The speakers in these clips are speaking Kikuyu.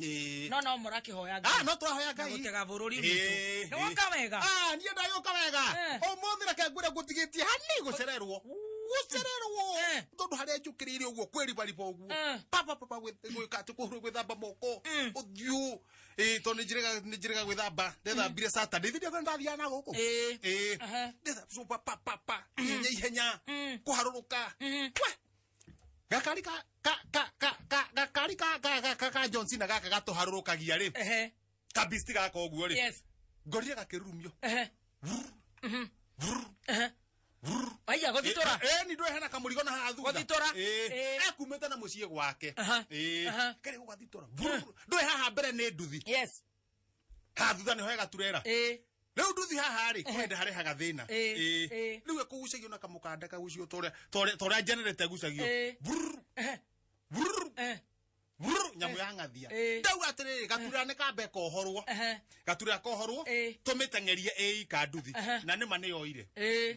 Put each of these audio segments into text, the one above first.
Ĩĩ. no no mũrakĩhoya Ah, ngai no tũrahoya ngai gũtega bũrũri Ĩĩ, witũ ĩĩ. nĩ woka wega Ah, niĩ ndagĩũka wega Eh. ũmũthĩ reke ngwĩre ngũtigĩtie hani gũcererwo gũcererwo Eh. tondũ harĩa njũkĩrĩire ũguo kwĩribariba ũguo Eh. papa papa gwĩ- gwĩka atĩ kũhurwo gwĩthamba moko Mm. ũthiũ Ĩĩ, tondũ nĩnjĩrĩga- nĩnjĩrĩga gwĩthamba ndethambire saturday thĩndĩ ĩyo ndathiaga na gũkũ Ĩĩ. Ĩĩ. Aha. Ndetha- so, pa- pa- pa- pa. ihenya ihenya Mm. kũharũrũka Mhm. We, gakari ka ka ka ka ka gakari ka ka ka ka ka John Cena gaka gatuharũrũkagia rĩ ehe kabisti gaka ũguo rĩ yes ngorire gakĩrurumio ehe ehe aiya gũthitũra eh ni ndwe hena kamurigo na haha thutha Gũthitũra? eh Eh. akumĩte na mũciĩ gwake Aha. eh Aha. kare gũgathitora ndwe haha mbere nĩ nduthi yes ha thutha nĩho hega turera ĩ rĩu nduthi haha rĩ kwenda harĩ haga thĩna Ĩ, Ĩ. ĩ. rĩu ĩkũgucagio na kamũkanda kagucio torĩa torĩa- torĩa generate ĩgucagio Ĩ. Brrr, eh, brrr, eh, brrr, nyamũ ya ng'athia Ĩ. ndauga atĩrĩrĩ gaturera nĩ kambe kohorwo eh, gaturera kohorwo Ĩ. tũmĩteng'erie ĩika nduthi Aha. na nĩma nĩyoire ĩ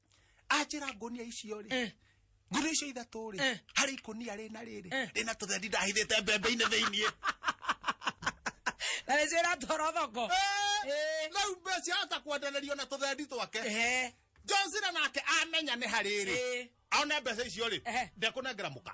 anjĩra ngũnia icio rĩ eh. ngũnia icio ithatũ rĩ eh. harĩ ikũnia rĩna rĩrĩ eh. rĩna tũthendi ndahithĩte mbembe-inĩ thĩiniĩ na nĩcĩra toro thoko rĩu mbeca hota kwendererio na tũthendi twake njocira nake amenya nĩ harĩrĩ aone mbeca icio rĩ ndekũnengera mũka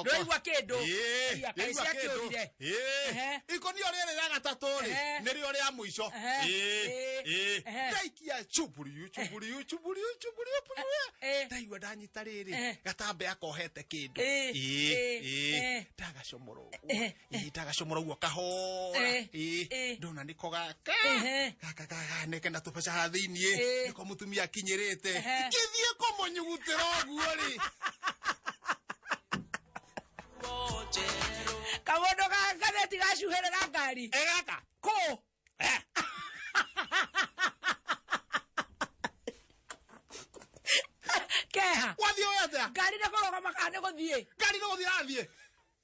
ndoigua kĩndũ kaĩcia kĩũrire ikonio rĩrĩ rĩa gatatũ rĩ nĩrĩo rĩa mũico ndaikia chuburiu chuburiu chuburiu chuburiu ndaigua ndanyita rĩrĩ gatambĩ akohete kĩndũ ndagacomora ũguo ihinda gacomora guo kahora Eh, Ĩĩ, eh. ndona nĩko gaka Ehe. gaka gaganeke na tũbeca ha thĩiniĩ Eh. nĩko mũtumia akinyĩrĩte Ehe. ngĩthiĩ kũmũnyugutĩra ũguo rĩ kamondo gakaneti gacuhere ga ngari egaka kå keha wathiĩ ũyatĩa ngari nä kå rogama kana nä gå thiä ngari nĩ gũthiĩ athiĩ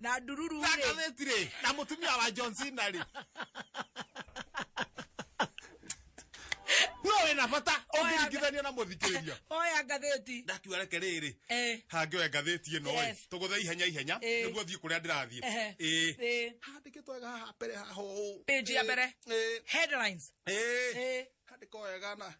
na ndururu na rĩ katheti rĩ na mutumia wa John Cena rĩ no wina bata ungiringithania na muthikiriria oya ngathĩti ndatua reke rĩrĩ Eh. hangĩoya ngathĩti ĩno ĩ Yes. tũgũthe ihenya ihenya Eh. nĩguo thiĩ kũrĩa ndĩrathiĩ Ehe. Ĩ. Ĩ. handĩkĩtwo wega haha mbere haha ũũ. Page ya Ĩ. mbere. Ĩ. headlines Ĩ. Ĩ. handĩkwo wega na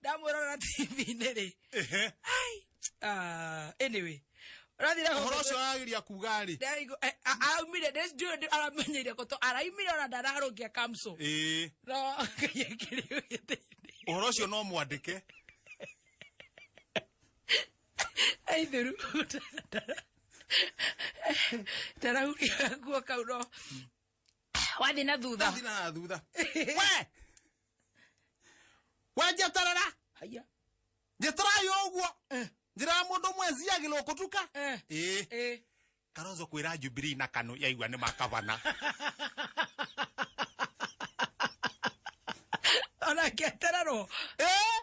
ndamwĩrorera tv-inĩ rĩ Ehe. ai ah, anyway ũrathire home- Ũhoro ũcio arageria kuga rĩ. Ndaigu- eh, a- araumire ndĩ- ndiũĩ ndĩ- aramenyeire gũtũ araumire ona ndararũngia kamso Ĩĩ. no ngai akĩrĩ gĩtĩ-inĩ Ũhoro ũcio no mwandĩke. aithuru ndarahuria guo kau no wathiĩ na thutha Thiĩ na thutha we we njeterera haya njĩtarayo ũguo Eh. njĩra ya mũndũ ũmwe njiagĩrwo kũtuka Eh. ĩĩ eh karozo kwĩra jubilee na kanu yaigua nĩ makavana ona ngetererwo Eh?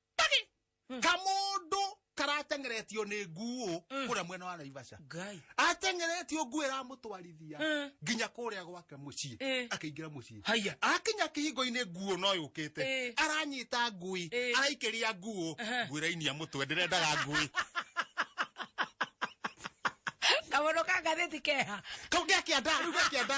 Tagi! Kamundu karatengeretio ni nguo kuria mwena wa Naivasha. Ngai. Atengeretio nguo iramutwarithia Mm. nginya kuria gwake mucii. Eh. Akiingira mucii. Haya. Akinya kihingo-ini nguo no yukite. Eh. Aranyita ngui, Eh. araikiria nguo, Aha. nguo irainia mutwe ndirendaga ngui. Kamono ka ngathĩti keha. Kau ngiakienda, riu ngiakienda.